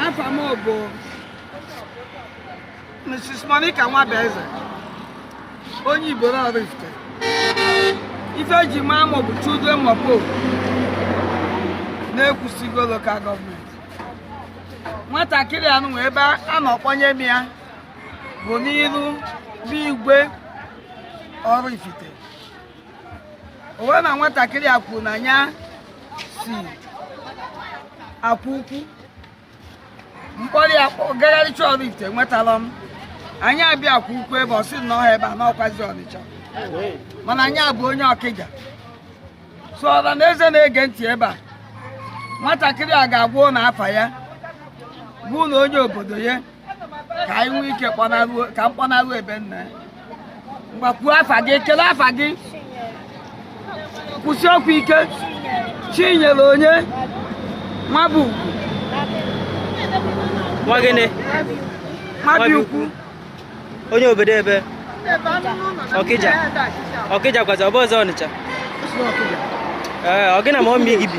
afa m bụ Mrs. Monica Nwabueze onye Ibolo Oraifite ife eji maa m bụ Children Mopo na Ekwusigo lokal gọọmenti nwatakịrị a nwe ebe a nọ kpọnye m ya bụ n'iru n'igwe Oraifite o wee ma nwatakịrị a kwuru na ya si akwa ukwu m kpọrọ ya gagharịcha Oraifite nwetarọ m anyị abịa akwa ukwu ebe ọ sị na ọhọ ebe a na ọ kwazi Ọnịcha mana nya bụ onye Ọkịja so ọra na eze na-ege ntị ebe a nwatakịrị a ga-agwa unu afa ya bụ na onye obodo ya ka anyị nwee ike kpọnaruo ka m kpọnaruo ebe nna ngwa kwuo afa gị kele afa gị kwusie okwu ike Chinyere onye Nwabuikwu Nwabuikwu onye obodo ebe Ọkịja Ọkịja kwazi ọ bụrọzị Ọnịcha ee ọ gị na mọmị gị bi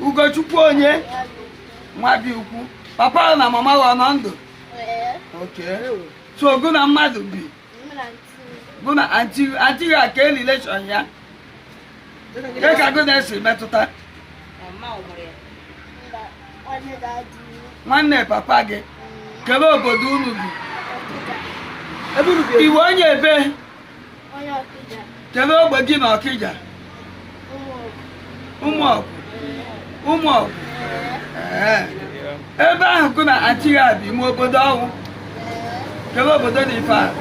Ugochukwu onye Nwabuikwu papa na mama ọ nọ ndụ so gụ na mmadụ bi gụ na anti ya kele relation ya ke ka gụ na ya si metụta nwanne papa gị kele obodo unu bi ị bụ onye ebe kedu ogbe gị na Ọkịja Ụmụọgụ Ụmụọgụ ebe ahụ gụ na anti gị a bi ime obodo ọnwụ kedu obodo na ife ahụ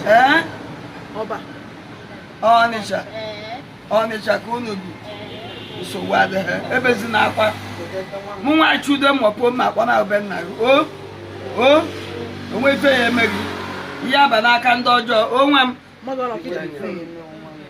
ee Ọnịcha Ọnịcha ka unu bi nsogbu adịghị ebezina akwa mụ nwa Children Mopo m akpọna be nna gị o o onwe ife ya eme gị ị ya aba n'aka ndị ọjọọ onwe m